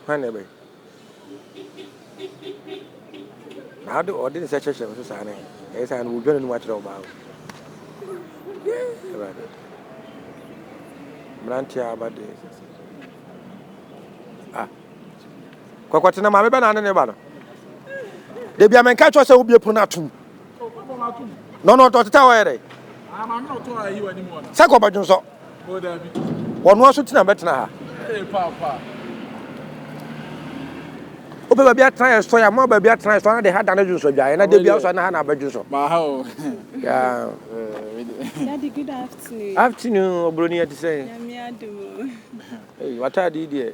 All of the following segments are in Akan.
Hwan na ɛbɛ? Na ade ɔde nsa kyerɛkyerɛ me so saa ne ɛyɛ saa no wodwa n'anim akyerɛ ɔbaa o awurade mmeranteɛ a aba deɛ a ah. kɔkɔtena maame bɛ na ane ne ba no da bia menka kyerɛ sɛ wobie pono no atom na ɔno ɔtɔ teta ɔyɛ dɛ sɛ kɔ ɔbɛdwo nsɔ ɔno aso tena bɛtena ha wopɛ baabi atena yɛ sɔ yɛ ama baabi atena yɛ sɔ ana de ha da no dwonsɔ dwaeɛ na da bi asɔ na ha na abɛdwo nsɔ afternoon ɔbroni ɛte sɛ watade deɛ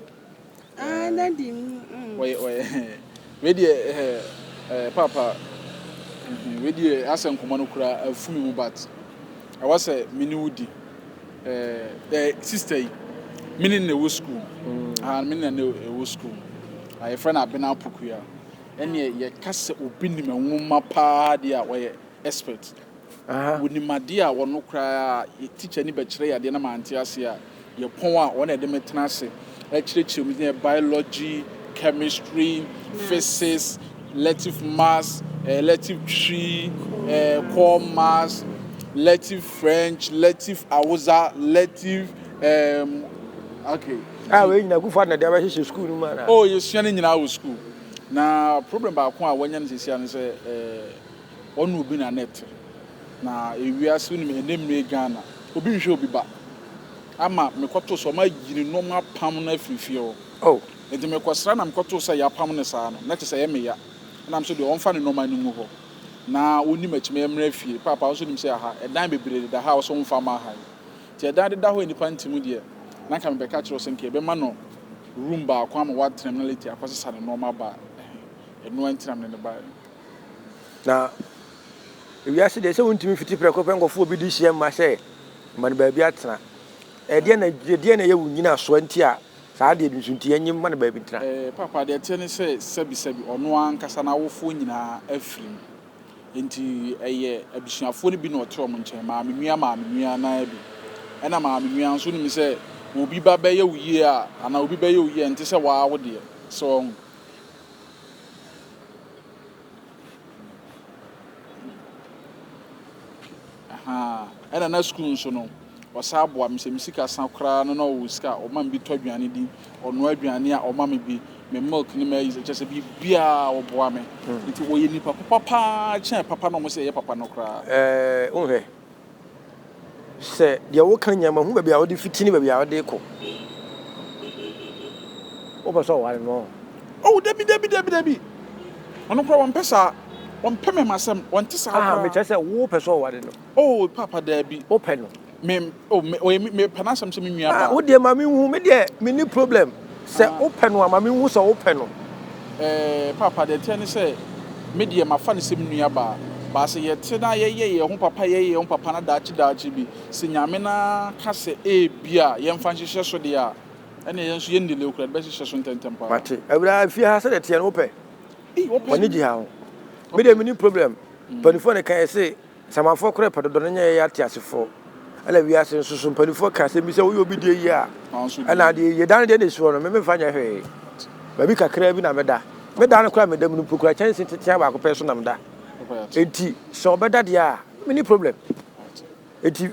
Ah, eh, daddy. Mm. Wɔyɛ wɔyɛ wei deɛ ɛɛ eh, ɛɛ eh, paapa mhm, wei deɛ asɛ nkɔmɔ no kura afu mi mu but ɛwɔ sɛ me ne wo di ɛɛ eh, ɛɛ sista yi me ne na ɛwɔ sukuu mm. ah me ne na ɛwɔ sukuu ah yɛfrɛ no abena apokua ɛnneɛ yɛka sɛ obi nim nwoma paa deɛ a wɔyɛ. expert wɔ nim adeɛ a ɔno koraa yɛ teacher ni bɛkyerɛ yɛ adeɛ na mante aseɛ a yɛ pɔn a ɔna ɛde me tena ase ɛkyerɛkyerɛ mu yɛ biology chemistry physics elective maths eh, elective tree eh, core maths elective french elective awoza elective um, okay a ah, wei nyina kufa na de abɛhyehyɛ school no mu ana oh yɛsua no nyinaa wɔ school na problem baako a wɔanya no sɛsia no sɛ eh, Ɔne obi na na ɛte. Na ewiase wonim ɛnɛ mmire Ghana obi nhwɛ obi ba ama mekɔtoo sɛ wɔayi ne nnoɔma apam no afiri fie hɔ nti mekɔsra na mekɔtoo sɛ yɛapam no saa no na kyɛ sɛ ɛyɛ me ya ɛna me nso deɛ ɔmfa ne nnoɔma no ngu hɔ na ɔnni m'akyi mɛyɛ mmra fie paapa wo nso nim sɛ aha ɛdan bebree deda ha a wo sɛ womfa mma ha yi nti ɛdan deda hɔ a nnipa nte mu deɛ na nka mebɛka kyerɛ wo sɛ nka yɛbɛma no room baako ama woatena mu na later akɔsesa ne nnoɔma aba ɛhe ɛnoa nti na mene no baeɛ. Na wiase deɛ sɛ wontumi fiti prɛko pɛ nkɔfo obi de hyia mma sɛ ma no baabi atena. Ɛdeɛ na ɛdeɛ na ɛyɛ wo nyina soɔ nti a saa adeɛ bi nso nti ɛnye mma no baabi ntena. Eh, papa, deɛ ɛteɛ ne sɛ sɛbisɛbi ɔno ara ankasa n'awofoɔ nyinaa afiri mu. Enti ɛyɛ abusuafoɔ no bi na wɔte wɔn nkyɛn, maamenua maamenua no ara bi. Ɛna maamenua nso wonim sɛ obi ba bɛyɛ wo yie a anaa obi bɛyɛ wo yie a ɛnte sɛ wo ara wo deɛ. So wahu? Ahaa ɛna na sukuu nso no ɔsan boa me sɛ me sika sa koraa no na ɔwɔ sika a ɔma me bi tɔ aduane di ɔnoa aduane a ɔma me bi me milk ne ma ayi sɛ kyɛ sɛ biribiaa ɔboa me nti ɔyɛ nipa papa paa kyɛn papa na ɔmo sɛ ɛyɛ papa no koraa. Ɛɛ wohwɛ Sɛ deɛ woka nyɛ ma hu baabi a wode fiti ne baabi a wode kɔ. Wopɛ sɛ ɔware no ɔ? Oh, dabi, dabi, dabi, dabi. Ɔno koraa wɔmpɛ saa. Wɔmpɛ mɛma asɛm. Wɔnte saa koraa. Ah, mekyerɛ sɛ wopɛ sɛ ɔware no. Oh, paapa dabi. Wopɛ no. Me, oh, me, ɔyɛ me, mepɛ n'asɛm sɛ me nua baa. Ah, wodeɛ ma me nhu, me deɛ, me ni problem. Sɛ wo pɛ no a, ma me nhu sɛ wo pɛ no. Ɛɛ, paapa, deɛ ɛteɛ ne sɛ, me deɛ mafa no sɛ me nua baa. Baa sɛ yɛ te na yɛ yɛ yɛn ho papa, yɛ yɛ yɛn ho papa na daakye daakye bi, sɛ Nyame na ka sɛ ebia yɛn fa nhyehyɛ so deɛ a, ɛneɛ yɛn nso yɛn nnileo koraa, yɛde bɛ hyehyɛ so ntɛntɛm paa. Mate, awuraa, fie ha sɛdeɛ ɛteɛ no wo pɛ? W'ani gye ha ho? Me deɛ menni problem, mpanyinfoɔ na ɛka yɛ se Samanfoɔ korɛ pɛ dodɔ no nyɛ yɛyɛ ateasefoɔ ɛna wiase nso so mpanifoɔ ka asɛm bi sɛ woyɛ obi deɛ yie a ɛna deɛ yie da no deɛ na ɛsi hɔ no memfa nyɛ hwee baabi kakraa bi na meda meda no koraa meda mu no mpo koraa kyɛnse tetea baako pɛ so na meda enti sɛ ɔbɛda deɛ a mene problem enti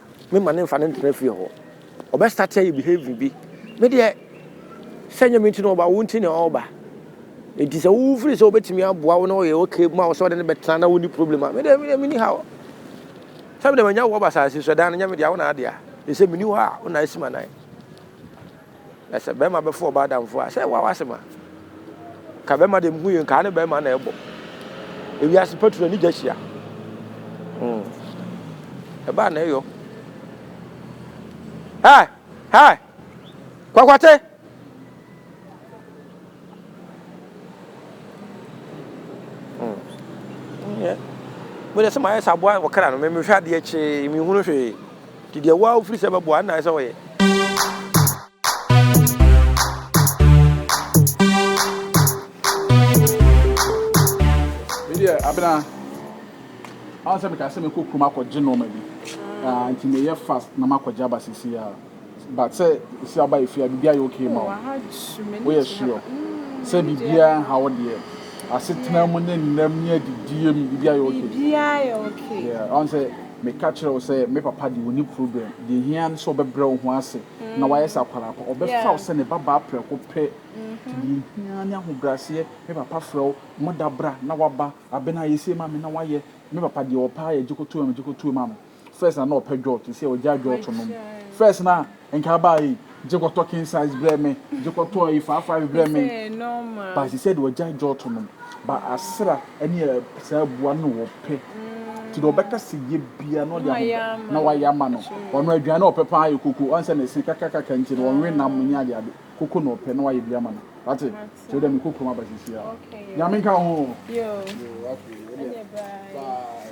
Me ma no nfa no ntena fie hɔ. Ɔbɛ start ayɛ behaving bi. Me deɛ sɛ nyɛ me nti na ɔba, wo nti na ɔba. Enti sɛ wo firi sɛ wobɛtumi aboa wo na ɔyɛ okay ma wo sɛ ɔde no bɛtena na wonni problem a, me deɛ me deɛ menni haw. Sɛ me deɛ manya wo wɔ basase so, ɛdan no nyɛ me dea, wo na adea. Ɛsɛ meni hɔ a, wo na asi m'anan. Na sɛ bɛrima bɛfa ɔbaa adamfo a, sɛ wawa asɛm a, ka bɛrima deɛ mehu yɛ nkaa ne bɛrima na ɛbɔ. Ewiase patu na ne gya hyia. Hmm. Ɛbaa na ɛyɔ. Hai! Hai! Kwakwate! Mode sɛ mayɛ sɛ aboa ɔkra no, mehwɛ adeɛ kyee, mehunu hwee. Nti deɛ woa wofiri sɛ bɛboa, ɛna sɛ wɔyɛ. Medeɛ abena, ahụ sɛ meka sɛ mekɔ kurom akɔgye nɔɔma bi, nti meyɛ fast na makɔgye aba sisi ya. But sɛ esi aba yɛ fie a biribi ayɛ okay ma wo. Woyɛ sure sɛ biribiara nha wo deɛ? Asetena mu ne nnam ne adidie mu biribi ayɛ okay? Biribiara yɛ okay. Yeah, wahu sɛ meka kyerɛ wo sɛ me papa deɛ ɔnni problem. Deɛ ɛhia ne sɛ ɔbɛbrɛ wo ho ase na wayɛ sɛ akwadaa pa. Ɔbɛfa wo sɛ ne babaa prɛko pɛ. Nti deɛ ɛhia ara ne ahobrɛaseɛ. Me papa frɛ wo, mo da bra na waba. Abena, yɛ sei ma me na wayɛ. Me papa deɛ ɔpɛ ara yɛ gyekotoam gyekotoam ma me. First na na ɔpɛ dwɔɔto sɛ ɔgyaa dwɔɔto nom. First na nka abaa ei, gye kɔtɔ king size brɛ me, gye kɔtɔ ei five five brɛ me. But she said ɔgyaa dwɔɔto nom. But asra ne saa abua no na ɔpɛ. Nti deɛ ɔbɛka sɛ yɛ biara na ɔde ahobrɛ na wayɛ ama no. Ɔno aduane a ɔpɛ paa yɛ koko. Ɔn sɛ ne se kakakaka nti no ɔnwe nam ne adeade. Koko na ɔpɛ na wayɛ bi ama no. Wate? Nti wodeɛ mekɔ kurom aba seesei a. Nyame nka wo ho o. Yoo afei wodeɛ bye.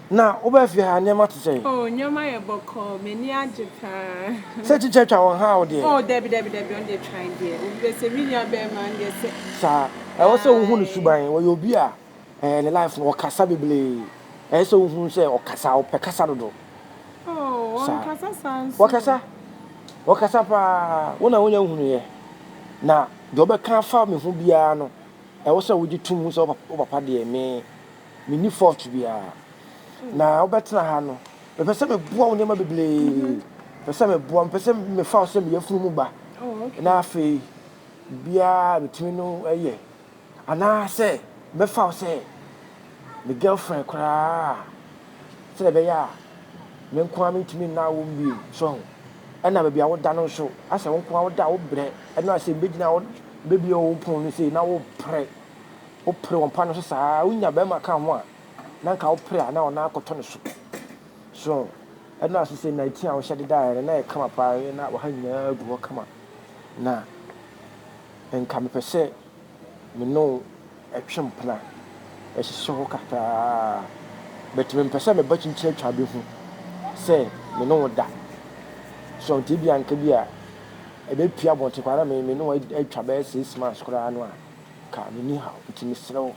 Na woba fie ha a, nneɛma te sɛn? Oh, nneɛma yɛ bɔkɔɔ, m'ani agye paa. Sɛ tikya twa wɔn ha a, wo deɛ? Oh, dabi, dabi, dabi, ɔno deɛ twan deɛ, obi bɛ sɛ, me nua bɛɛma, ɔno deɛ sɛ. Saa. Ɛwɔ sɛ wohu ne suban, wɔyɛ obi a, ɛɛ, ne life no, ɔkasa bebree. Ɛyɛ sɛ wohu no sɛ ɔkasa, ɔpɛ kasa dodo. Oh, ɔnkasa saa nso. Ɔkasa, ɔkasa paa, wo na wonya hunuiɛ. Na deɛ ɔbɛka afa me ho biara no, ɛwɔ sɛ wogye tom hu sɛ wo papa deɛ, me. Menni fault biara. Na wobɛtena ha no, mepɛ sɛ meboa wo nneɛma bebree. Mepɛ sɛ meboa, mepɛ sɛ mefa wo sɛ me yafunu mu ba. Na afei, biara metumi no yɛ. Anaasɛ mɛfa wo sɛ me girlfriend koraa sɛdeɛ ɛbɛyɛ a me nko ara mentumi nna awom bio. So ahu? Ɛna baabi a woda no nso, asɛ wo nko ara woda a wobrɛ. Ɛno a sɛ mebɛgyina hɔ bɛbie wo pono no sei na worepere Wo pere wo mpa no so saa wo nya bɛɛma ka ho a na nka wo pere a na ɔnan akɔtɔ ne so so ɛno a sese na eti a wo hyɛ de daeɛ no na yɛ kama paa yɛ na ɔha nyinaa gu hɔ kama na nka me pɛ sɛ me ne wo ɛtwe mpena ɛhyehyɛ hɔ kakraa but me mpɛ sɛ me ba kyinkyin atwa bɛ hu sɛ me ne wo da so nti ebi anka bi a ɛbɛ pia bɔnte kwa na me me ne wo atwa bɛɛ six months koraa no a Ka me ni haw nti mesrɛ wo.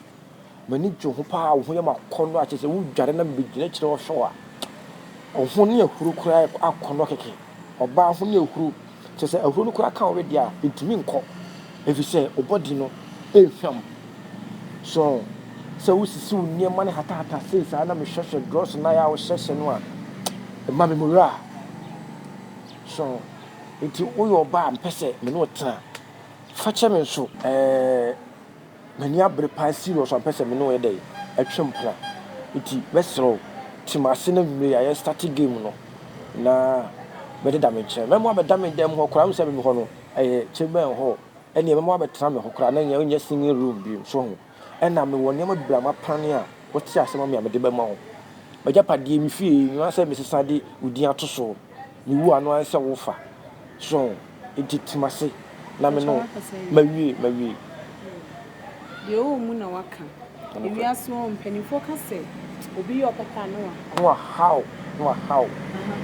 M'ani gye wo ho paa wo ho yɛ m'akɔnnɔ a kyerɛ sɛ wo dware na mebɛgyina akyire hɔ hwɛ wo a wo ho ne ahuro koraa yɛ akɔnnɔ kɛkɛ ɔbaa ho ne ahuro kyerɛ sɛ ahuro no koraa ka wo wedeɛ a ɛntumi nkɔ ɛfiri sɛ wo body no ɛnhwam so sɛ wo sisi wo nneɛma no hatahata sei saa na mehwɛhwɛ drɔs no a wohyɛhyɛ no a ɛma me mura so nti woyɛ ɔbaa a mpɛ sɛ me ne wo tena Fa kyɛ me nso ɛɛ M'ani abere paa serious ampɛ sɛ me ne wo yɛ dɛn ɛtwe mpena Nti mɛsrɛ wo te m'ase na anwumerɛ yi a yɛ starte game no na bɛdeda me nkyɛn Mɛma woabɛda me dan mu hɔ koraa wohu sɛ me me hɔ no ɛyɛ chamber and hall Ɛneɛ mɛma woabɛtena me hɔ koraa na ɛnyɛ wonyɛ singing room bio so ho. Ɛnna mewɔ nneɛma bebree a mapan a wote ase ma me a mede bɛma wo. M'agyapadeɛ, me fie, nnwan sɛ mesesa de wo din ato so. Mewu a, ɛno ara ne sɛ wofa. So enti te m'ase na me ne wo. Mawie, mawie. Deɛ ɔwɔ mu na waka. Ewiase hɔ mpanimfoɔ ka sɛ, Obi yɛ ɔpɛ kaa Noah. Noah how Noah how. Aha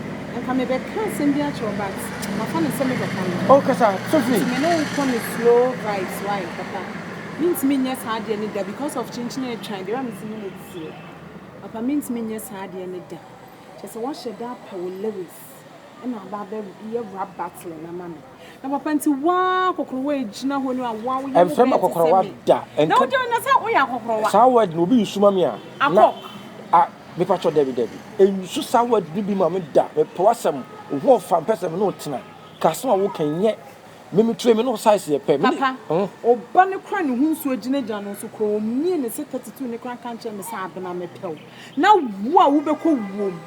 nka me bɛ ka asɛm bi akyerɛ wo but ma fa no sɛ me bɛ ka no. Oh kasa Sophie. Nti me ne wo kɔ ne slow vibes why papa me ntumi nyɛ saa adeɛ no da because of kyenkyen a atwa deɛ wa me se me na ɛdi seɛ papa me ntumi nyɛ saa adeɛ no da kyɛ sɛ wa hyɛ da apɛ wo lyrics. na aba abɛ yɛ rap battle no ama me na papa nti waa kɔkɔrɔwa egyina hɔ ni a waa woyɛ ɛnfɛ ma kɔkɔrɔwa da na wogyina na sɛ woyɛ akɔkɔrɔwa saa word na obi nsu ma me a na a mepa kyɔ dɛbi dɛbi ensu saa word no bi ma me da mepɛ wasɛm ohu ɔfa mpɛ sɛ me ne ɔtena kasɛm a woka nyɛ me me ture me ne size yɛ pɛ me papa ɔba ne kora ne ho nsuo gyinagyina no nso kora ɔmmie ne sɛ 32 ne kora nka nkyerɛ me sɛ abena mepɛw Na wo a wobɛkɔ wuom.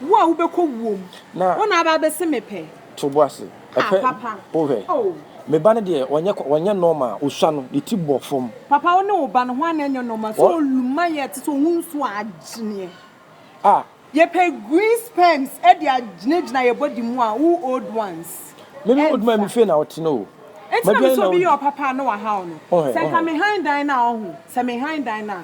Wo a wobɛkɔ wuom. Na. Wo na aba abɛse me pɛ. To bo ase. Ah papa. Wohwɛ. Oh. Me ba no deɛ ɔnyɛ ɔnyɛ normal ɔsua no ne ti bɔ fam. Papa wo ne wo ba no ho ana ɛnyɛ normal sɛ ɔluma yɛ te sɛ ɔho nsuo a agyeneɛ. Ah. Yɛpɛ green sperms de agyinagyina yɛ body mu a wo old ones. Me me old man me fie na ɔte no o. Enti na me sɛ obi yɛ ɔpapa a na wahaw no. Wohwɛ. Sɛ nka me han dan no a ɔho sɛ me han dan no a.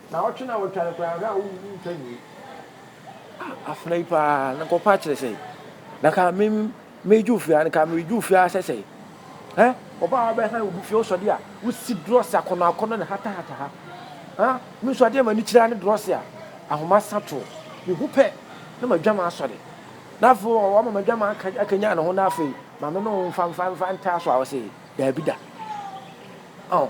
Na ɔtwe no a ɔtwa no koraa anka wontwa nwie. Ah afena yi paa na nkɔpa kyerɛ sɛ na ka me meju fie a na ka meju fie a sɛ sɛ eh ɔbaa wa bɛhan obi fie ɔsɔde a wosi drɔs akɔnɔ akɔnɔ ne hata hata ha ah me nso adeɛ ma ne kyerɛ ne drɔs a ahoma sa to me ho pɛ na ma dwama asɔre na afei ɔma ma dwama akanya ne ho na afei ma me no mfa mfa mfa ntaa so a ɔsɛ daabi da ɔn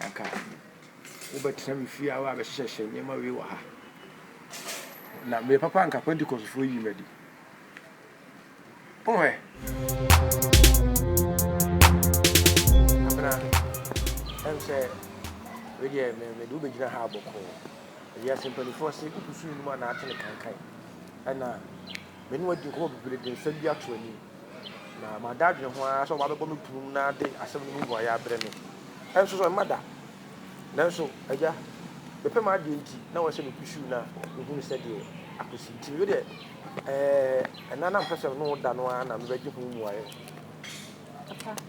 anka wobɛtena me fie a woabɛhyehyɛhyehyɛ nneɛma wei wɔ ha. Na me papa anka Pentecostfoɔ yi m'adi. Wohwɛ. Abena, ɛm sɛ wei deɛ mede wobɛgyina ha abɔkɔɔ. Wiase mpanimfoɔ se wokusu nnum a naate ne kankan. Ɛna me ne wadi nkɔmmɔ bebree de nsa bi ato anim. Na mada adwene ho ara sɛ wɔabɛbɔ me prum na ade asɛm no mu mmuae abrɛ me. Ɛnso so, ɛmma da. Nanso, Agya, mepɛ m'adeɛ nti, na wɔahyɛ me kusuu no a mehunu sɛdeɛ akosi nti. Mehwɛ deɛ, ɛɛ, ɛnã na mepɛ sɛ mene wo da no ara na mebɛgye ho mmuaeɛ. Papa,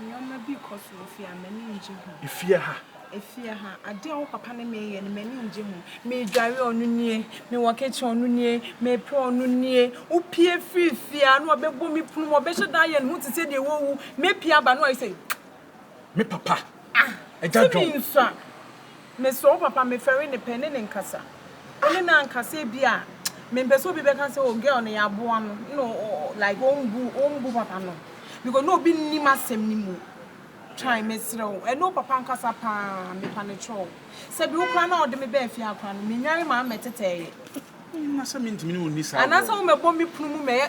Nneɛma bi kɔ so wɔ fie a, m'ani ngye ho. Efie ha. Efie ha. Adeɛ a wo papa ne me yɛ no, m'ani ngye ho. Medware ɔno nie, mewɔ kitchen ɔno nie, mepra ɔno nie. Wopie firi fie a, na ɔbɛbɔ me punu mu, ɔbɛhyɛ da ayɛ ne ho te sɛ deɛ wawu. Mepie aba a, na wayɛ sɛ. Me papa. Ah! Agya John. Tumi nsua. Mesrɛ wo papa mefɛre ne pɛ ne ne nkasa ɔne me ankasa ebi a mempɛ sɛ obi bɛka sɛ oh girl no yɛaboa no na like ɔmbu ɔmbu papa no because na obi nnim asɛm no mu try mesrɛ wo ɛne wo papa ankasa paa mepa ne kyɛ wo sɛ bi wo kora na ɔde me bɛɛ fie akora no menware maa mɛtetɛɛyɛ. Anasɛ mentumi ne wo nni saa agorɔ no. Anasɛ wo mɛbɔ me kunu mu mɛyɛ.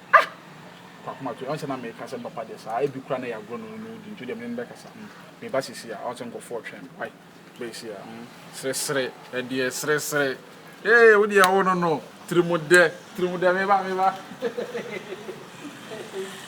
Ah! Kwaku Mato, ɔnsɛ na meka asɛm papa deɛ saa, ebi koraa na ɛyɛ agorɔ na ɔno na ɔdi, nti deɛ mene no bɛkasa, mm, meba seesei a, ɔnsɛ nkorɔfoɔ retwɛn me, wai, bɛyɛ sei a, mm, seresere, ɛdeɛ, seresere, ee, wo deɛ wo no no, tirimodɛ, tirimodɛ, meba, meba, hehehehe, hehehehe.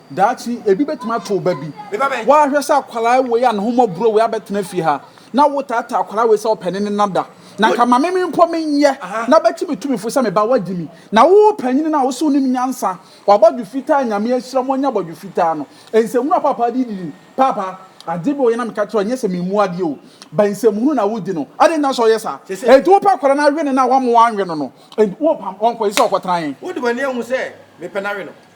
Daakye ebi betumi ato wo ba bi. Woahwɛ sɛ akwadaa wei a ne ho mmɔborɔ wei abɛtena fie ha, na wotaataa akwadaa wei sɛ ɔpɛ ne ne nna da. Na nka ma me mpo menyɛ na bɛte me tumifo sɛ me ba woadi mi. Na wo panyin no a wo se wonim nyansa, w'abɔdwe fitaa Nyame ahyira mo anya abɔdwe fitaa no. Nsɛmhunu a paapaa de didi, Paapa, ade bi wɔ hɔ na meka kyerɛ wo, ɛnyɛ sɛ memmu adeɛ o, but nsɛmhunu na wodi no. Adɛn nti na sɛ ɔyɛ saa? Enti wopɛ akwadaa no awe no na woama wanwe no no, enti wopam ɔnkɔ, ɛsɛ sɛ ɔkɔtra he? Wode w'ani ahu sɛ mepɛ no awe no?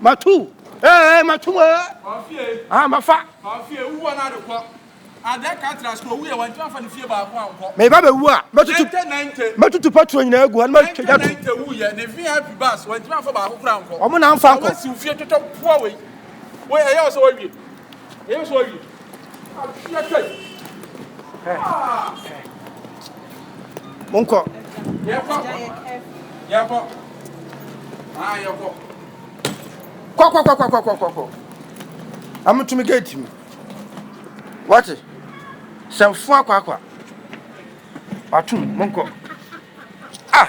matu ee matu mu ee ah mafa meba bɛwu a mɛtutu patro nyinaa agu hɔ no matwagya to ɔmo na mfa nkɔ monkɔ kɔkɔkɔkɔkɔkɔ amotumi gate mu wate sɛmfo akɔ akɔ atom monkɔ ah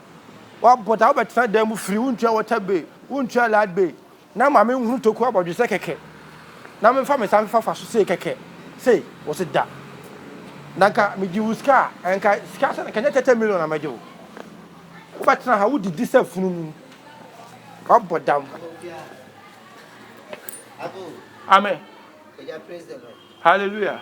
Wabota wobɛtena dan mu firi wontua water bill wontua light bill na maame nhunu toku abɔdwesɛ kɛkɛ na memfa me nsa mfefa fa so sei kɛkɛ sei wɔ se da na nka megye wo sika a nka sika sɛ nka nyɛ tɛtɛ million na mɛgye wo wobɛtena ha wodidi sɛ fununu wabɔ dam amen hallelujah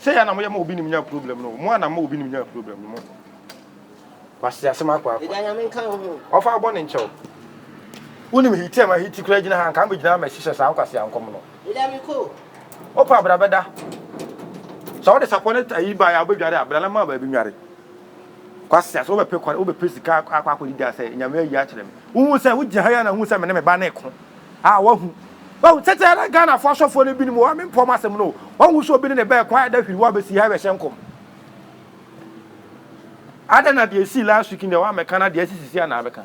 Sɛ yɛ na mo yɛ ma obi nim nya problem no mo a na mo obi nim nya problem no mo wasi asem akɔ akɔ. Ɛda nyame nka ho. Ɔfa ɔbɔ ne nkyɛw. Wonim hiti ɛma hiti kura gyina ha nka me gyina ama hyehyɛ saa nkwasi ankɔm no. Ɛda mi ko. Opa abra bɛda. Sɛ ɔde sapɔ ne ayi ba ya ɔbɛdware abra na ma baabi nware. Kwasia, sɛ wobɛpɛ kwan, wobɛpɛ sika akɔ akɔ akɔdidi a sɛ Nyame ayi akyerɛ me. Wohu sɛ wogyina ha yi a na wohu sɛ me ne me ba no reko a wahu. Wahu tete na Ghanafoɔ asɔfoɔ no binom wɔ mempɔ ɔmo asɛm no o. Wahu sɛ obi ne ne ba reko a ɛda hwiri wɔ abɛsi ha rebɛhyɛ nkɔm. Adɛn na deɛ esii last week no deɛ woammɛka na deɛ asi sisi a na abɛka.